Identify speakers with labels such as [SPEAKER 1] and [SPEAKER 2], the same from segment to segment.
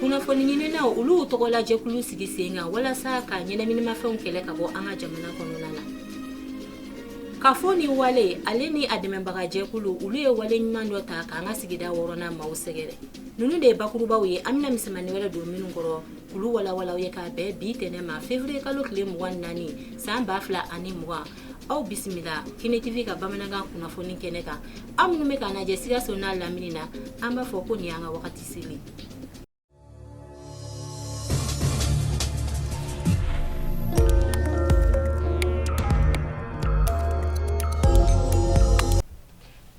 [SPEAKER 1] kunnafoni ɲininaw olu tɔgɔlajɛkulu sigi sen kan walasa ka ɲɛnaminimafɛnw kɛlɛ ka bɔ an ka jamana kɔnɔna na kafo ni wale ale ni a dɛmɛbaga jɛkulu olu ye wale ɲuman dɔ ta k'an ka sigida wɔɔrɔnan maaw sɛgɛrɛ ninnu de ye bakurubaw ye an bɛna misɛmani wɛrɛ don minnu kɔrɔ k'olu walawal'aw ye k'a bɛn bi tɛnɛ ma fevriye kalo tile mugan naani san ba fila ani mugan aw bisimila kini tv ka bamanankan kunnafoni kɛnɛ kan aw minnu bɛ k'an lajɛ sikaso n'a lamini na an b'a fɔ ko nin y'an ka wagati Kisini.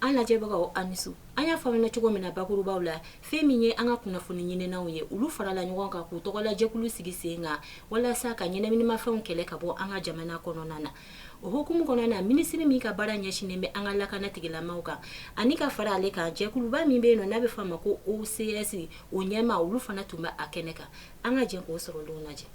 [SPEAKER 1] an lajɛbagaw a ni su an y'a faamuya cogo min na bakurubaw la fɛn min ye an ka kunnafoni ɲininaw ye olu farala ɲɔgɔn kan k'u tɔgɔlajɛkulu sigi sen kan walasa ka ɲɛnaminimafɛnw kɛlɛ ka bɔ an ka jamana kɔnɔna na O hukumu kɔnɔna na minisiri min ka baara ɲɛsinnen bɛ an ka lakana tigilamaw kan ani ka fara ale kan jɛkuluba min bɛ yen nɔ n'a bɛ fɔ a ma ko OCS o ɲɛmaa olu fana tun bɛ a kɛnɛ kan an ka jɛn k'o sɔrɔlenw lajɛ.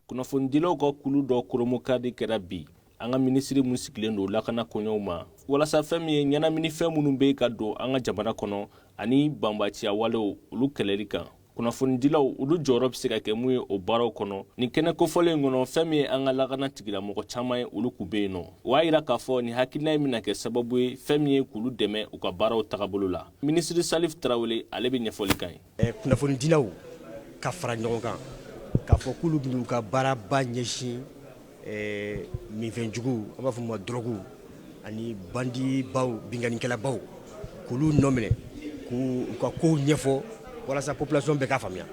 [SPEAKER 2] Kunnafonidilaw ka kulu dɔ kurunbonkari kɛra bi an ka minisiri min sigilen don lakana koɲɛw ma walasa fɛn min ye ɲɛnaminifɛn minnu bɛ ka don an ka jamana kɔnɔ ani banbaanciya walew olu kɛlɛli kan. kunnafonidilaw olu jɔyɔrɔ bɛ se ka kɛ mun ye o baaraw kɔnɔ nin kɛnɛ kofɔlen in kɔnɔ fɛn min ye an ka lakana tigilamɔgɔ caman ye olu kun bɛ yen nɔ o y'a yira k'a fɔ nin hakilina in bɛna kɛ sababu ye fɛn min ye k'olu dɛmɛ u ka baaraw tagabolo la minisiri salif tarawele ale bɛ ɲɛfɔli k'an ye eh, kunnafonidilaw
[SPEAKER 3] ka fara ɲɔgɔn kan k'a fɔ k'olu bɛn'u ka baaraba ɲɛsin ɛɛ minfɛnjugu an b'a fɔ ma dɔrɔgu ani bandibaw binkannikɛlabaw k'olu nɔ minɛ k'u u ka kow ɲɛfɔ walasa population bɛɛ k'a faamuya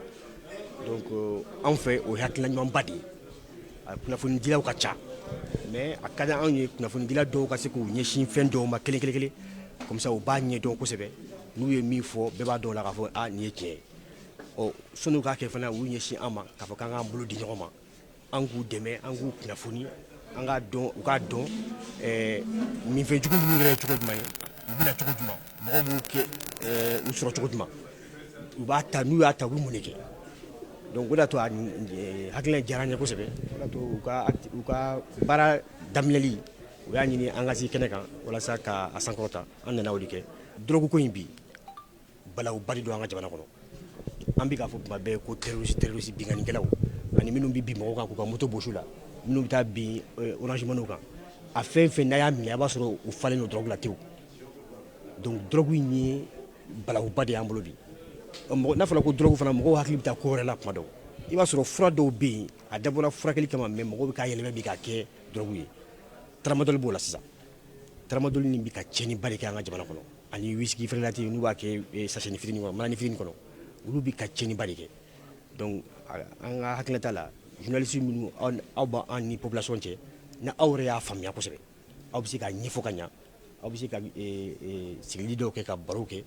[SPEAKER 3] donc anw fɛ o ye hakilina ɲumanba de ye a kunnafonidilaw ka ca mais a ka di anw ye kunnafonidila dɔw ka se k'u ɲɛsin fɛn dɔw ma kelen kelen kelen comme ça u b'a ɲɛdɔn kosɛbɛ n'u ye min fɔ bɛɛ b'a dɔn o la k'a fɔ a nin ye tiɲɛ ye ɔ sɔnni u k'a kɛ fana u y'u ɲɛsin an ma k'a fɔ k'an k'an bolo di ɲɔgɔn ma an k'u dɛmɛ an k'u kunnafoni an k'a dɔn u k'a dɔn minfɛnjugu ninnu yɛrɛ ye cogo jumɛn ye u bɛ na cogo jumɛn mɔgɔw b'u kɛ u sɔrɔ cogo jumɛn u b'a ta n'u y'a ta u bɛ mun de kɛ donc o de y'a to a hakilina diyara an ye kosɛbɛ o de y'a to u ka baara daminɛli u y'a ɲini an ka se kɛnɛ kan walasa k'a sankɔrɔta an nana o de kɛ dɔrɔgu ko in bi Balawuba de don an ka jamana kɔnɔ an bɛ k'a fɔ tuma bɛɛ ko terroriste terroriste binkannikɛlaw ani minnu bɛ bin mɔgɔw kan k'u ka moto bɔs'u la minnu bɛ taa bin orange money kan a fɛn o fɛn n'a y'a minɛ a b'a sɔrɔ u falen don drogue la tewu donc drogue in ye balawuba de y'an bolo bi n'a fɔra ko drogue fana mɔgɔw hakili bɛ taa ko wɛrɛ la tuma dɔw i b'a sɔrɔ fura dɔw bɛ yen a dabɔra furakɛli kama mais mɔgɔw bɛ k'a yɛlɛmɛ bi k'a kɛ drogue ye tramadol b'o la sisan Tramadol nin bɛ ka tiɲɛniba de kɛ an ka jamana kɔnɔ ani whisky frelaté n'u b'a kɛ eh, sachetni fitini kɔnɔ manani fitini kɔnɔ olu bɛ ka tiɲɛniba de kɛ donc an ka hakilinata la journaliste minnu aw b'an ni population cɛ ni aw yɛrɛ y'a faamuya kosɛbɛ aw bɛ se k'a ɲɛfɔ ka ɲa aw bɛ se ka eh, eh, sigili dɔw kɛ ka barow kɛ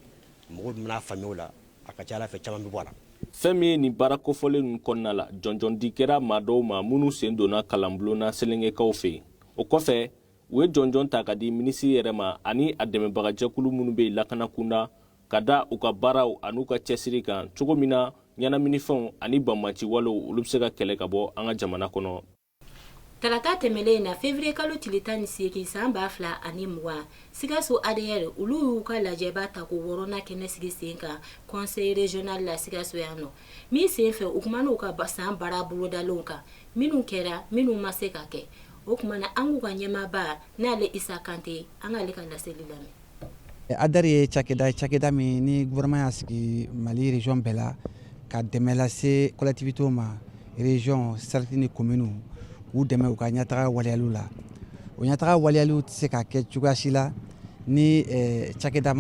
[SPEAKER 3] mɔgɔw bɛn'a faamuya o la a ka ca a la fɛn caman bɛ bɔ a la fɛn min ye nin baara
[SPEAKER 2] kofɔlen ninnu kɔnɔna la jɔnjɔndi kɛra maa dɔw ma minnu sen donna kalanbulon na Selengekaw fɛ yen o kɔfɛ u ye jɔnjɔn ta k'a di minisiri yɛrɛ ma ani a dɛmɛbagajɛkulu minnu bɛ yen lakana kunda ka da u ka baaraw an'u ka cɛsiri kan cogo min na ɲɛnaminifɛnw ani banbanci walew olu bɛ se ka kɛlɛ ka bɔ an ka jamana kɔnɔ Tarata
[SPEAKER 1] tɛmɛnen in na février kalo tile tan ni seegin san ba fila ani mugan, Sikaso ADR olu y'u ka lajɛba tako wɔɔrɔnan kɛnɛ sigi sen kan conseil régional la Sikaso yan nɔ, min senfɛ u kumana u ka san baara bolodalenw kan. Minnu kɛra minnu ma se ka kɛ o kuma na an k'u ka ɲɛmaaba n'ale Isa Kante an k'ale ka laseli lamɛn ADR ye cakɛda
[SPEAKER 4] cakɛda min ni gouvernement y'a sigi Mali région bɛɛ la ka dɛmɛ lase collectivités ma région cercle ni commune k'u dɛmɛ u ka ɲɛtaga waleyaliw la o ɲɛtaga waleyaliw tɛ se ka kɛ cogoya si la ni cakɛda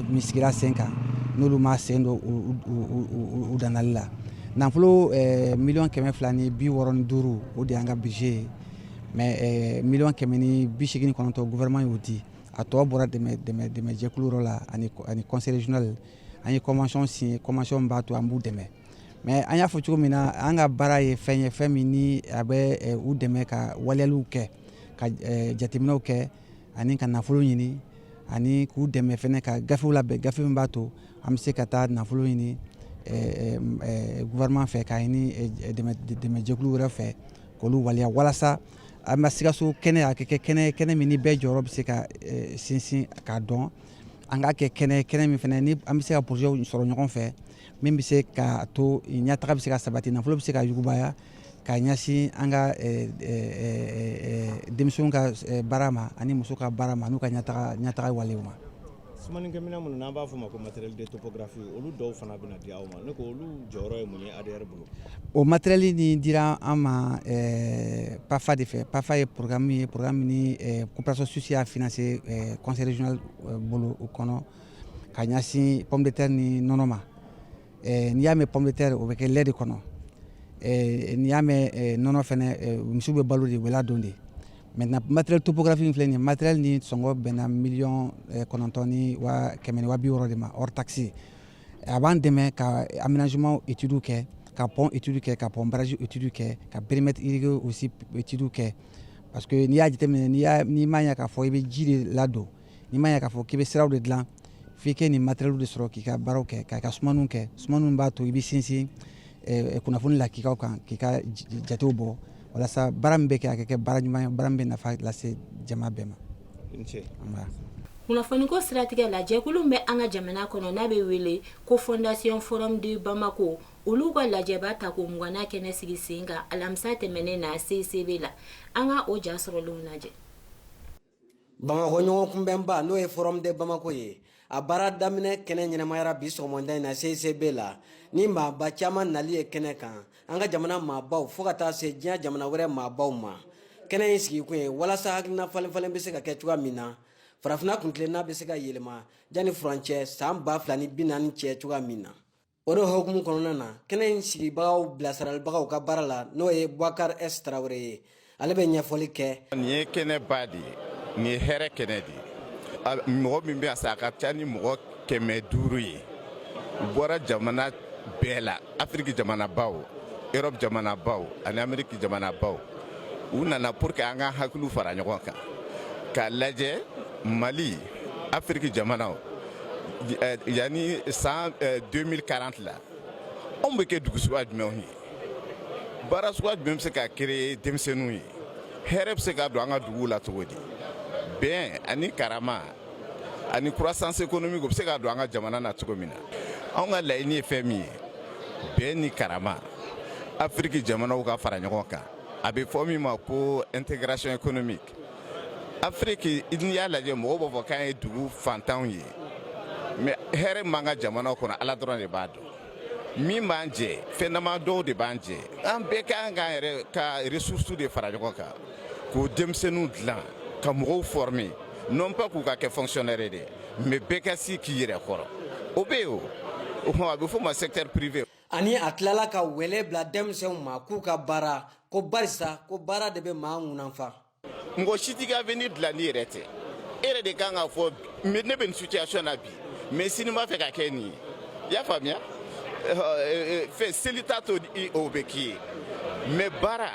[SPEAKER 4] min sigira sen kan n'olu ma sen don u dilali la nafolo miliyɔn kɛmɛ fila ni bi wɔɔrɔ ni duuru o de y'an ka budget ye mais miliyɔn kɛmɛ ni bi segin ni kɔnɔntɔn gouvernement y'o di a tɔ bɔra dɛmɛjɛkulu la ani conseil régional an ye convention signé convention b'a to an b'u dɛmɛ mais an y'a fɔ cogo min na an ka baara ye fɛn ye fɛn min a bɛ u dɛmɛ ka waleyaliw kɛ ka jateminɛw kɛ ani ka nafolo ɲini ani k'u dɛmɛ fɛnɛ ka gafew labɛn gafe min b'a to an bɛ se ka taa nafolo ɲini gouvernement fɛ k'a ɲini dɛmɛjɛkulu wɛrɛ fɛ k'olu waleya walasa an ka Sikaso kɛnɛ a ka kɛ kɛnɛ kɛnɛ min ni bɛɛ jɔyɔrɔ bɛ se ka sinsin k'a dɔn an ka kɛ kɛnɛ kɛnɛ min fɛnɛ ni an bɛ se ka projets sɔrɔ ɲɔgɔn fɛ min bɛ se k'a to ɲɛtaga bɛ se ka sabati nafolo bɛ se ka yugubaya ka ɲɛsin an ka denmisɛn ka baara ma ani muso ka baara ma n'u ka ɲɛtaga walew ma sumanikɛminɛn minnu
[SPEAKER 5] n'an b'a fɔ ma ko matériel de topographie olu dɔw fana bɛ di aw ma ne ko olu jɔyɔrɔ ye mun ye ADR bolo o matériel
[SPEAKER 4] nin dira an ma PAFA de fɛ PAFA ye programme ye programme min ni coopération suisse y'a financé conseil régional bolo o kɔnɔ ka ɲɛsin pomme de terre ni nɔnɔ ma N'i y'a mɛn pɔnpɛ tɛ o bɛ kɛ lɛ de kɔnɔ n'i y'a mɛn nɔnɔ misi bɛ balo de wula don de mɛ na matiɛrɛre topkafi filɛ nin mare ni sɔngɔ bɛnna miy kɔnɔntɔn ni kɛmɛ waati yɔrɔ de ma takisi a b'an dɛmɛ ka anminaumanw etudu kɛ ka pɔn etuurudu kɛ ka pɔn baraji etuurudu kɛ ka bereeremɛtiririku si etuuru kɛ pa que n'i y'a jateminɛ n'i m'a ya k'a fɔ i bɛ ji de ladon N'i ma ya k'a fɔ k'i bɛ siraw de dilan f'i kɛ nin matériel de sɔrɔ k'i ka baaraw kɛ ka i ka sumaniw kɛ sumaniw min b'a to i bɛ sinsin kunnafoni lakikaw kan k'i ka jatew bɔ walasa baara min bɛ kɛ a ka kɛ baara ɲuman ye baara min bɛ nafa lase jama bɛɛ ma. I ni ce. Anba.
[SPEAKER 1] Kunnafoniko siratigɛ la, jɛkulu min bɛ an ka jamana kɔnɔ n'a bɛ wele ko Fondation Forum de Bamako, olu ka lajɛba tako mugannan kɛnɛ sigi sen kan alamisa tɛmɛnen na CCB la. An ka o ja sɔrɔlenw lajɛ.
[SPEAKER 6] bamakɔ ɲɔgɔn kunbɛnba n'o ye forum de bamako ye a baara daminɛ kɛnɛ ɲɛnamayara bi sɔgɔmada in na ccb la ni maaba caman nali ye kɛnɛ kan an ka jamana maabaw fo ka taa se diɲɛ jamana wɛrɛ maabaw ma kɛnɛ in sigikun ye walasa hakilina falenfalen bɛ se ka kɛ cogoya min na farafina kuntilenna bɛ se ka yɛlɛma jani furancɛ san ba fila ni bi naani cɛ cogoya min na o de hukumu kɔnɔna na kɛnɛ in sigibagaw bilasiralibagaw ka baara la n'o ye bubakari s tarawele ye ale bɛ ɲɛfɔli kɛ nin ye kɛnɛba
[SPEAKER 7] de ye nin ye hɛrɛ kɛnɛ de ye mɔgɔ min bɛ a sa a ka ca ni mɔgɔ kɛmɛ duuru ye u bɔra jamana bɛɛ la afiriki jamanabaw erɔpu jamanabaw ani ameriki jamanabaw u nana pour que an ka hakiliw fara ɲɔgɔn kan k'a lajɛ mali afiriki jamanaw eh, yanni san 2040 eh, la anw bɛ kɛ dugu suguya jumɛnw ye baara suguya jumɛn bɛ se ka créer denmisɛnninw ye hɛrɛ bɛ se ka don an ka duguw la cogo di bɛn ani karama ani croissance économique o bɛ se ka don an ka jamana na cogo min na anw ka laɲini ye fɛn min ye bɛn ni karama afiriki jamanaw ka fara ɲɔgɔn kan a bɛ fɔ min ma ko intégration économique afiriki n'i y'a lajɛ mɔgɔw b'a fɔ k'an ye dugu fantanw ye mais hɛrɛ m'an ka jamanaw kɔnɔ ala dɔrɔn de b'a dɔn min b'an jɛ fɛn dama dɔw de b'an jɛ an bɛɛ ka kan k'an yɛrɛ ka ressources de fara ɲɔgɔn kan k'o denmisɛnninw dilan ka mɔgɔw former non pas k'u ka kɛ fonctionnaire de mais bɛɛ ka sigi i yɛrɛ kɔrɔ o bɛ yen o a bɛ fɔ o ma secteur privé ani a
[SPEAKER 6] tilala ka wele bila denmisɛnw ma k'u ka baara ko barisa ko baara de bɛ maa ŋunanfa mɔgɔ si t'i
[SPEAKER 7] ka avenir dilan n'i yɛrɛ tɛ e yɛrɛ de kan k'a fɔ ne bɛ nin situation na bi mais sini n b'a fɛ ka kɛ nin ye i y'a faamuya fɛn seli t'a to o bɛ k'i ye mais baara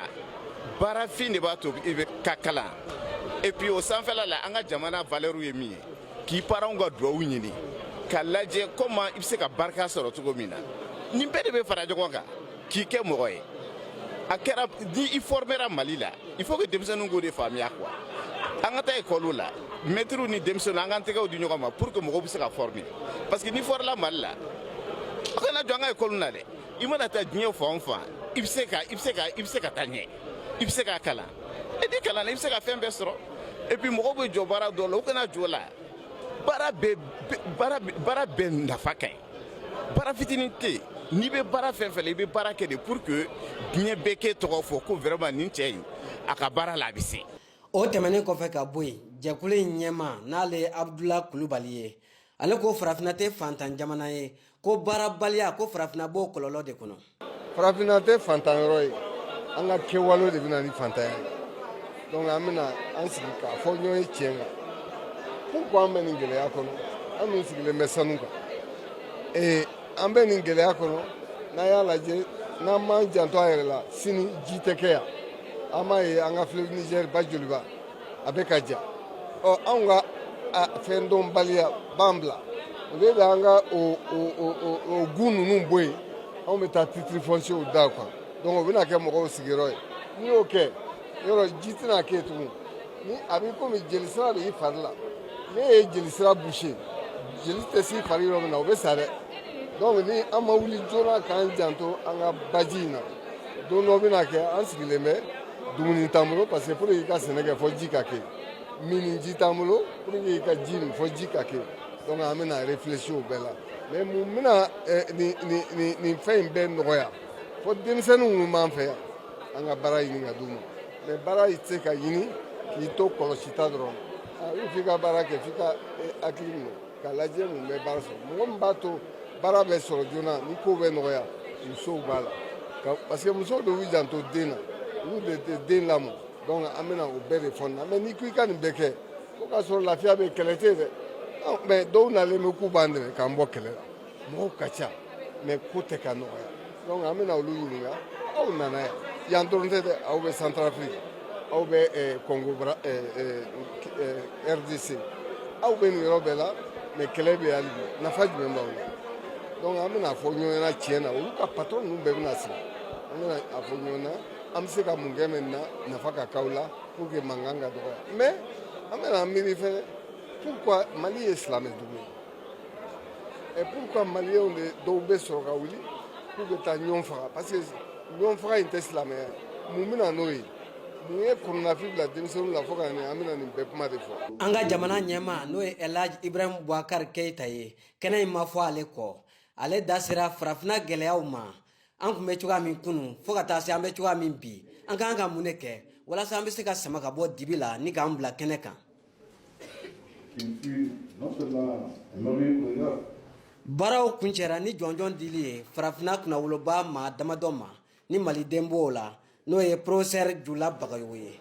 [SPEAKER 7] baarafin de b'a to i bɛ ka kalan et puis o sanfɛla la an ka jamana valeur ye min ye k'i paranw ka duwawu ɲini ka lajɛ comment i bɛ se ka barika sɔrɔ cogo min na nin bɛɛ de bɛ fara ɲɔgɔn kan k'i kɛ mɔgɔ ye a kɛra ni i fɔrmera mali la il faut que denmisɛnninw k'o de faamuya quoi an ka taa ekɔliw la mɛtiriw ni denmisɛnninw an k'an tɛgɛw di ɲɔgɔn ma pour que mɔgɔw bɛ se ka fɔrme parce que n'i fɔrmela mali la aw kana jɔn an ka ekɔliw na dɛ i mana taa diɲɛ fan fan i bɛ se ka i bɛ se ka i bɛ se ka taa ɲɛ i bɛ se ka kalan et n'i kalanna i bɛ se ka fɛn bɛɛ sɔrɔ et puis mɔgɔw bɛ jɔn baara dɔ la u kana jɔn o la baara bɛɛ baara baara bɛɛ nafa ka ɲi baara fitinin tɛ yen n'i bɛ baara fɛn fɛn la i bɛ baara kɛ de pour que diɲɛ bɛɛ k'e tɔgɔ fɔ ko vraiment nin cɛ in a ka baara la a bɛ se. o tɛmɛnen kɔfɛ
[SPEAKER 6] ka bɔ yen jɛkulu in ɲɛmaa n'ale ye abudula kulubali ye ale ko farafinna tɛ fantan jamana ye ko baarabaliya ko farafinna b'o kɔlɔlɔ de kɔnɔ farafinna
[SPEAKER 8] tɛ fantan yɔrɔ ye an ka kɛwalew de bɛ na ni fantanya ye donc an bɛna an sigi k'a fɔ ɲɔgɔn ye tiɲɛ kan pourquoi an bɛ nin gɛlɛya kɔnɔ an dun sigilen bɛ sanu kan ee an bɛ nin gɛlɛya kɔnɔ n'an y'a lajɛ n'an m'an janto an yɛrɛ la sini ji tɛ kɛ yan an b'a ye an ka fleuve nizɛri ba joliba a bɛ ka ja ɔ anw ka fɛn dɔnbaliya b'an bila o de bɛ an ka o gun ninnu bɔ yen anw bɛ taa titiri fɔnsew d'a kan donc o bɛna kɛ mɔgɔw sigiyɔrɔ ye n'i y'o kɛ yɔrɔ ji tɛna kɛ tugun ni a b'i komi jelisira de b'i fari la n'i ye jelisira boucher jeli tɛ s'i fari yɔrɔ min na o bɛ sa dɛ donc ni an ma wuli joona k'an janto an ka baji in na don dɔ bɛna kɛ an sigilen bɛ dumuni t'an bolo parce que pour que i ka sɛnɛ kɛ fo ji ka kɛ minniji t'an bolo pour que i ka ji min fo ji ka kɛ donc an bɛna réfléchir o bɛɛ la mais mun bɛna eh, nin nin nin nin fɛn in bɛɛ nɔgɔya fo denmisɛnnin minnu b'an fɛ yan an ka baara ɲini ka d'u ma mais baara tɛ se ka ɲini k'i to kɔlɔsita dɔrɔn ah, f'i ka baara kɛ f'i ka eh, hakili minɛ ka lajɛ mun bɛ baara sɔrɔ mɔgɔ min b'a to baara bɛ sɔrɔ joona ni ko bɛ nɔgɔya musow b'a la parce que musow de y'u janto den na olu de tɛ den lamɔ donc an bɛna o bɛɛ de fɔ ɲɔgɔn na mais n'i ko i ka nin bɛɛ kɛ fo k'a sɔrɔ lafiya bɛ kɛlɛ tɛ yen dɛ mais dɔw nalen bɛ k'u b'an dɛmɛ k'an bɔ kɛlɛ la mɔgɔw ka ca mais ko tɛ ka nɔgɔya donc an bɛna olu ɲininka aw nana yan yan dɔrɔn tɛ dɛ aw bɛ centrafrique aw bɛ eh, congo bra eh, eh, rdc aw bɛ nin yɔrɔ bɛɛ la mais kɛlɛ bɛ hali bi nafa jumɛn b'aw la donc an bɛna a fɔ ɲɔgɔn ɲɛna tiɲɛ na olu ka patron ninnu bɛɛ bɛna sigi an bɛna a fɔ ɲɔgɔn na an bɛ se ka mun kɛ maintenant nafa ka k'aw la pour que mankan ka dɔgɔya mais an bɛna miiri fɛnɛ pourquoi mali ye silamɛ dugu ye Et pourquoi maliyɛnw de dɔw bɛ sɔrɔ ka wuli k'u bɛ taa ɲɔgɔn faga parce que ɲɔgɔn faga in tɛ silamɛya. Mun bɛ na n'o ye. Mun ye kɔnɔnafili bila denmisɛnninw la fo ka na nin an bɛna nin bɛɛ kuma de fɔ. An ka jamana
[SPEAKER 6] ɲɛmaa n'o ye Elhaj Ibrahim Boubacar Keita ye kɛnɛ in ma fɔ ale kɔ ale da sera farafinna gɛlɛyaw ma an tun bɛ cogoya min kunu fo ka taa se an bɛ cogoya min bi an ka kan ka mun de kɛ walasa an bɛ se ka sama ka bɔ dibi la ni k'an bila kɛnɛ kan baaraw kuncɛra ni jɔnjɔn dili ye farafinna kunnawoloba maa damadɔ ma ni maliden b'o la n'o ye professeur jula bagayogo ye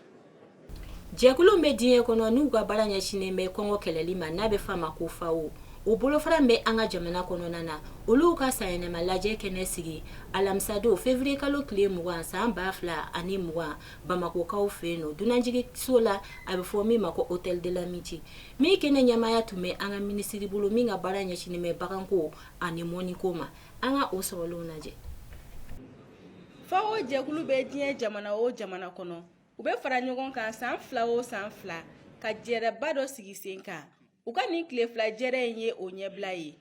[SPEAKER 1] jɛkulu bɛ diɲɛ kɔnɔ n'u ka baara ɲɛsinnen bɛ kɔngɔ kɛlɛli ma n'a bɛ f'a ma ko FAO o bolofara bɛ an ka jamana kɔnɔna na olu ka sanyɛlɛma lajɛ kɛnɛ sigi alamisadon février kalo tile mugan san ba fila ani mugan bamakɔkaw fɛ yen don dunanjiginso la a bɛ fɔ min ma ko hôtel de l'amitié min kɛnɛ ɲɛmaaya tun bɛ an ka minisiri bolo min ka baara ɲɛsinnen bɛ baganko ani mɔniko ma an ka o sɔrɔlenw lajɛ
[SPEAKER 9] FAO jɛkulu bɛ diɲɛ jamana o jamana kɔnɔ u bɛ fara ɲɔgɔn kan san fila o san fila ka jɛrɛba dɔ sigi sen kan u ka nin tile fila jɛrɛ in ye o ɲɛbila ye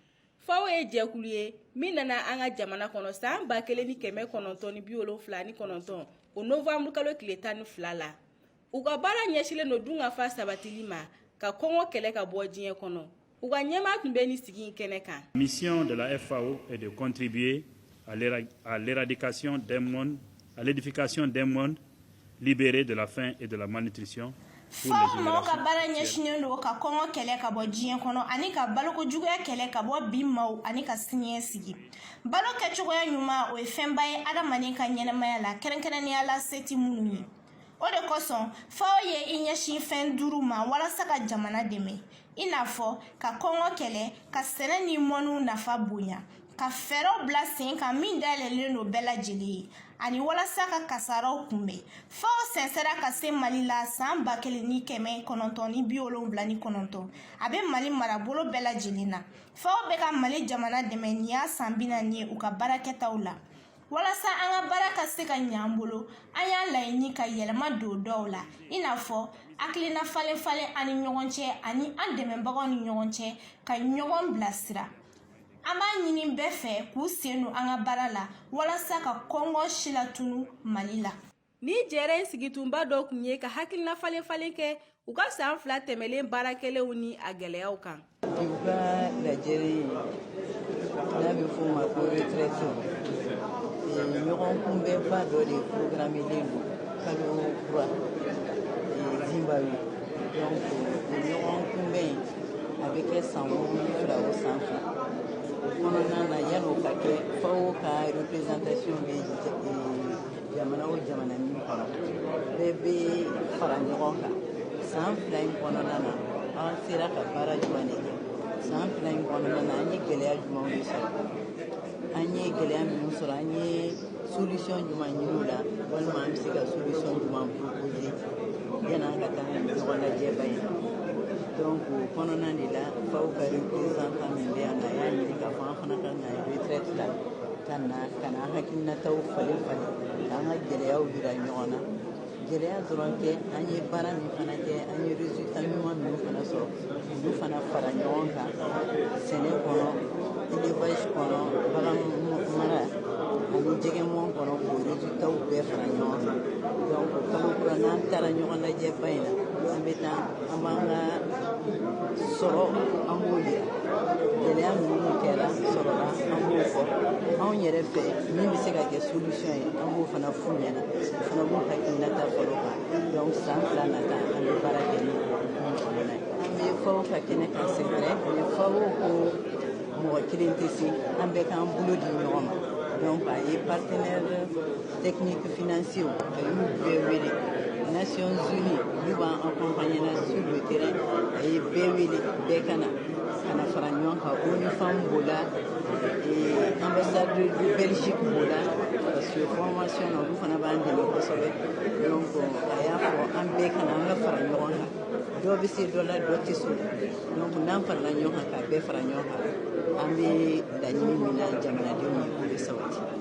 [SPEAKER 9] FAO ye jɛkulu ye min nana an ka jamana kɔnɔ san ba kelen ni kɛmɛ kɔnɔntɔn ni bi wolonfila ni kɔnɔntɔn o nowanburu kalo tile tan ni fila la u ka baara ɲɛsinlen don dunkafa sabatili ma ka kɔngɔ kɛlɛ ka bɔ diɲɛ kɔnɔ U ka ɲɛmaa tun bɛ nin sigi in kɛnɛ kan. Mission de la
[SPEAKER 10] FAO est de contribuer à l'éradication d'un monde, à l'édification d'un monde libéré de la faim et de la malnutrition. FAO mɔgɔw
[SPEAKER 11] ka baara ɲɛsinnen don ka kɔngɔ kɛlɛ ka bɔ diɲɛ kɔnɔ ani ka baloko juguya kɛlɛ ka bɔ bi maaw ani ka siniɲɛ sigi balo kɛcogoya ɲuman o ye fɛnba ye adamaden ka ɲɛnɛmaya la kɛrɛnkɛrɛnnenya la se tɛ minnu ye o de kosɔn FAO ye i ɲɛsin fɛn duuru ma walasa ka jamana dɛmɛ i n'a fɔ ka kɔngɔ kɛlɛ ka sɛnɛ ni mɔniw nafa bonya ka fɛɛrɛw bila sen kan min dayɛlɛlen don bɛɛ lajɛlen ye ani walasa ka kasaraw kunbɛn FAO sɛnsɛra ka se mali la saan ba kelen ni kɛmɛ kɔnɔntɔn ni bi wolonwula ni kɔnɔntɔn a be mali marabolo bɛɛ lajɛlen na FAO be ka mali jamana dɛmɛ nin y'a saan bi naani ye u ka baarakɛtaw la walasa an ka baara ka se ka ɲɛ an bolo an y'a laɲini ka yɛlɛma don dɔw la i n'a fɔ hakilina falen falen an ni ɲɔgɔn cɛ ani an dɛmɛbagaw ni ɲɔgɔn cɛ ka ɲɔgɔn bilasira an b'a ɲini bɛɛ fɛ k'u sen don an ka baara la walasa ka kɔngɔ si latunu mali la Ni jɛrɛ
[SPEAKER 9] in sigi kunba dɔ tun ye ka hakilina falen falen kɛ u ka san fila tɛmɛlen baara kɛlenw ni a gɛlɛyaw
[SPEAKER 12] kan u ka lajɛrɛ n'a bɛ fɔ ma ko retraite ɲɔgɔn kunbɛnba dɔ de programmelen don kalokura Zimbabwe donc ɲɔgɔn kunbɛn yen a bɛ kɛ san fila o san fila kɔnɔna na yan'o ka kɛ FAO ka représentation bɛ jamana o jamana min kɔnɔ bɛɛ bɛ fara ɲɔgɔn kan san fila in kɔnɔna na an sera ka baara jumɛn de kɛ san fila in kɔnɔna na an ye gɛlɛya jumɛnw de sɔrɔ an ye gɛlɛya minnu sɔrɔ an ye solution jumɛn ɲini o la walima an bɛ se ka solution jumɛn proposer yan'an ka taa ɲɔgɔn lajɛba in donc o kɔnɔna de la FAO ka représentant min bɛ yan a y'a ɲini k'a fɔ an fana ka na yan retraite la ka na ka na an hakilinataw falen falen ka an ka gɛlɛyaw jira ɲɔgɔn na gɛlɛya dɔrɔn tɛ an ye baara min fana kɛ an ye resultat ɲuman minnu fana sɔrɔ olu fana fara ɲɔgɔn kan sɛnɛ kɔnɔ élevage kɔnɔ bagan mara ani jɛgɛ mɔn kɔnɔ k'o resultatw bɛɛ fara ɲɔgɔn kan donc kalo kura n'an taara ɲɔgɔn lajɛba in na an bɛ taa an b'an ka sɔrɔ an b'o yira gɛlɛya minnu kɛra sɔrɔ la an b'o fɔ anw yɛrɛ fɛ min bɛ se ka kɛ solution ye an b'o fana f'u ɲɛna o fana b'u hakilinata fɔ o kan donc san fila nata an bɛ baara kɛ n'o kɔnɔna ye an bɛ FAO ka kɛnɛ kan c'est vrai mais FAO ko mɔgɔ kelen tɛ se an bɛɛ k'an bolo di ɲɔgɔn ma donc a ye partenaire technique financier a y'u bɛɛ wele nations unies olu b'an accompagner na sur le terrain a ye bɛɛ wele bɛɛ ka na ka na fara ɲɔgɔn kan onu femmes b'o la ambassadeur de belgique b'o la parce que formation na olu fana b'an dɛmɛ kosɛbɛ donc a y'a fɔ an bɛɛ ka na an ka fara ɲɔgɔn kan dɔ bɛ se dɔ la dɔ tɛ s'o donc n'an farala ɲɔgɔn kan k'a bɛɛ fara ɲɔgɔn kan an bɛ laɲini min na jamanadenw ye k'o bɛ sabati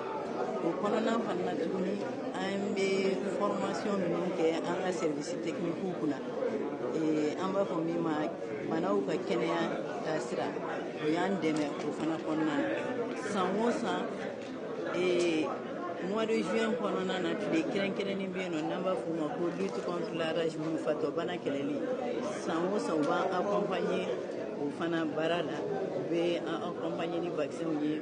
[SPEAKER 12] o kɔnɔna fana na tuguni an bɛ formation minnu kɛ an ka service techniquew kunna an b'a fɔ min ma baganw ka kɛnɛya taasira o y'an dɛmɛ o fana kɔnɔna na san o san mois de juin kɔnɔna na tile kɛrɛnkɛrɛnnen bɛ yen nɔ n'an b'a fɔ o ma ko lutte contre la rage fatɔ bana kɛlɛli san o san u b'an accompagner o fana baara la u bɛ an accompagner ni vaccinw ye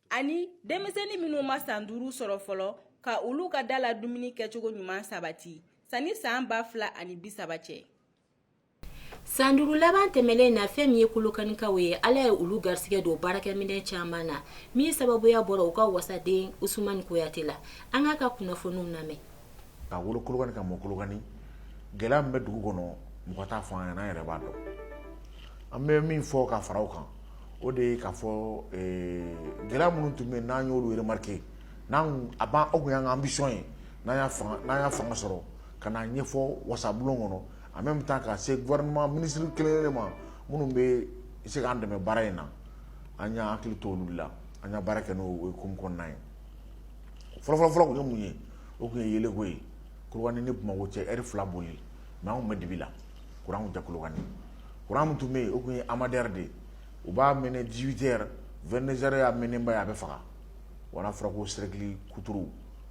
[SPEAKER 9] ani denmisɛnnin minnu ma san duuru sɔrɔ fɔlɔ ka olu ka da la dumuni kɛcogo ɲuman sabati sani san ba fila ani bi saba cɛ
[SPEAKER 1] san duuru laban tɛmɛnen na fɛn min ye kolokanikaw ye ala ye olu garisɛgɛ don baarakɛminɛn caman na min sababuya bɔra u ka wasaden usmani kuyate la an k'a ka kunnafoniw lamɛn ka
[SPEAKER 13] wolo Kolokani ka mɔ Kolokani gɛlɛya min bɛ dugu kɔnɔ mɔgɔ t'a fɔ an ɲɛna an yɛrɛ b'a dɔn an bɛ min fɔ ka fara o kan o de ye k'a fɔ gɛlɛya minnu tun bɛ yen n'an y'olu remarqué n'an a b'an o tun y'an ka ambition ye n'an y'a fanga n'an y'a fanga sɔrɔ ka n'a ɲɛfɔ wasabulon kɔnɔ en même temps ka se gouvernement ministre kelen-kelen ma minnu bɛ se k'an dɛmɛ baara in na an y'an hakili to olu la an y'a baara kɛ n'o hukumu kɔnɔna ye fɔlɔfɔlɔfɔlɔ kun ye mun ye o kun ye yeelenko ye Kolokani ni Bamakɔ cɛ heure fila boli ye mais an kun bɛ dibi la kuran kun tɛ Kolokani kuran min tun bɛ yen o tun ye AMADER de u b'a mɛnɛ dix-huit heures vingt-deux heures y'a mɛnɛba ye a bɛ faga wala fɔra ko cercle kuturu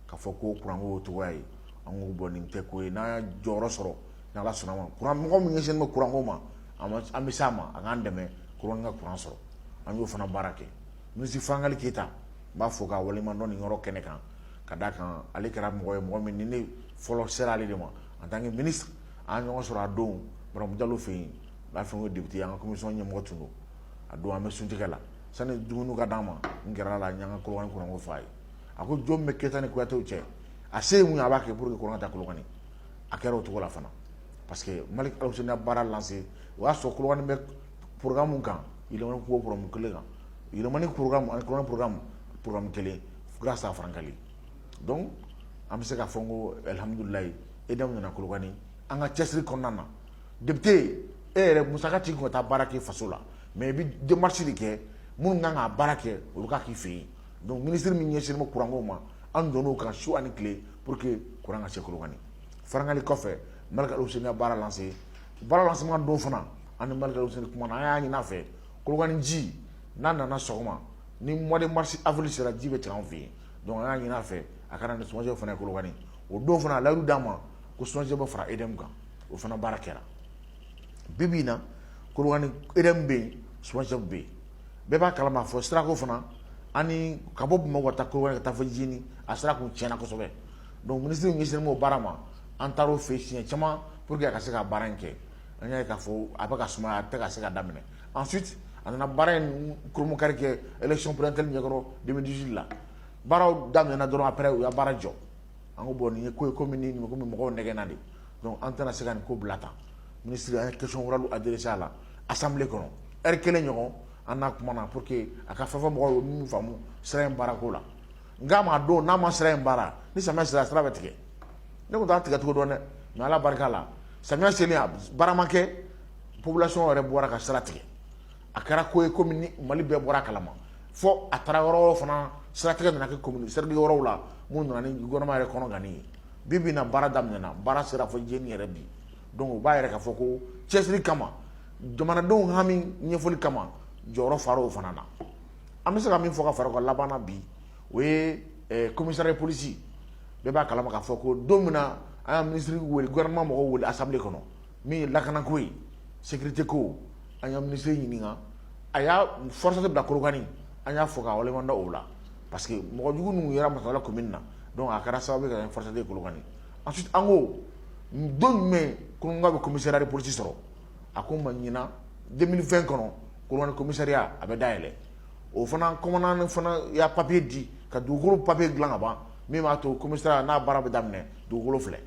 [SPEAKER 13] ka fɔ ko kuranko cogoya ye an ko bon nin tɛ ko ye n'an y'a jɔyɔrɔ sɔrɔ ni ala sɔnna ma kuran mɔgɔ min ɲɛsinnen bɛ kuranko ma an bɛ s'a ma a k'an dɛmɛ Kolokani ka kuran sɔrɔ an y'o fana baara kɛ ministre Frankali Keyita n b'a fɔ k'a waleɲumandɔn nin yɔrɔ kɛnɛ kan ka d'a kan ale kɛra mɔgɔ ye mɔgɔ min ni ne fɔlɔ sera ale de ma en tant que ministre an ɲɔgɔn sɔrɔ a don Baramu Jalo fɛ yen b'a fɛ n ko député an ka commission ɲɛmɔgɔ tun don a don an bɛ suntigɛ la sani dumuni ka d'an ma n gɛrɛl'a la n y'an ka Kolokani kuranko f'a ye a ko jɔn bɛ Keyita ni Kuyate cɛ a se ye mun ye a b'a kɛ pour que kuran ka taa Kolokani a kɛra o cogo la fana parce que Malick Alhousseini y'a baara lancé o y'a sɔrɔ Kolokani bɛ pmu kan yɛlɛmamaniin kelen kan yɛlɛmani porokanmu pmu kelen fo san fararankan dɔn an bɛ se ka fɔ ko alihamdulayi e da nana kulubali an ka cɛsiri kɔnɔna na debite yen e yɛrɛ musa ci kɔnɔ taa baara kɛ faso la mɛ i bɛ denmasi de kɛ minnu kan ka baara kɛ olu ka k'i fɛ yen don minisiriri min ɲɛsin ma kuranko ma an don ka su ani tile pour que kuran ka se kulubali fararankan kɔfɛ mali sen baara lase Baara lancement don fana an ni Malick Alhousseini kumana, an y'a ɲini a fɛ Kolokani ji n'a nana sɔgɔma ni mois de mars, avril sera ji bɛ tigɛ an fɛ yen donc an y'a ɲini a fɛ a ka na ni SOMAGEP fana ye Kolokani o don fana a layidu d'an ma ko SOMAGEP bɛ fara EDM kan o fana baara kɛra bi bi in na Kolokani EDM bɛ yen SOMAGEP bɛ yen bɛɛ b'a kalama fo sirako fana ani ka bɔ Bamakɔ ka taa Kolokani ka taa fo Djéni a sira tun tiɲɛna kosɛbɛ Donc minisiri ɲɛsinnen b'o baara ma, an taara o fɛ yen siɲɛ caman pour que a ka se ka baara in kɛ, an y'a ye k'a fɔ a bɛ ka sumaya a tɛ ka se ka daminɛ ensuite a nana baara in kurumukari kɛ élection présidentielle ɲɛkɔrɔ 2018 la, baaraw daminɛna dɔrɔn après u y'a baara jɔ, an ko bon nin ye ko ye ko min ni komi mɔgɔw nɛgɛnna de, donc an tɛna se ka nin ko bila tan, minisiri an ye question orale adressé a la assemblée kɔnɔ heure kelen ɲɔgɔn an n'a kumana pour que a ka fɛn fɔ mɔgɔw ye u ye min faamu sira in baarako la. N'a ma don n'a ma sira in baara ni samiya sera sira bɛ tigɛ ne tun t'a tigɛcogo dɔn dɛ nka ala barika la samiya selen baara ma kɛ population yɛrɛ bɔra ka sira tigɛ a kɛra ko ye kɔmi mali bɛɛ bɔra a kalama fo a taara yɔrɔ wɛrɛw fana siratigɛ nana kɛ commune cercle yɔrɔw la min nana ni gouvernement yɛrɛ kɔnɔ gan ye bi bi in na baara daminɛna baara sera fo Jijeni yɛrɛ bi donc o b'a yira k'a fɔ ko cɛsiri kama jamanadenw hami ɲɛfɔli kama jɔyɔrɔ fara o fana na An bɛ se ka min fɔ ka fara o kan laban na bi, o ye ɛ commissariat de police bɛɛ b'a kalama k'a fɔ ko don min na an y'a ministre wele, gouvernement mɔgɔw wele assemblée kɔnɔ min ye lakana ko ye, sécurité ko, an ye ministre ɲininka, a ye FORSAT bila Kolokani, an y'a fo k'a waleɲuman dɔn o la parce que mɔgɔ jugu ninnu yera Masantola commune na donc a kɛra sababu ye ka kɛ FORSAT ye Kolokani, ensuite an ko don jumɛn Kolokani bɛ commissariat de police sɔrɔ? a ko ma ɲinan deux mille vingt kɔnɔ Kolokani commissariat a bɛ dayɛlɛ o fana commandant fana y'a papiye di ka dugukolo papiye dilan ka ban min b'a to commissariat n'a baara bɛ daminɛ dugukolo filɛ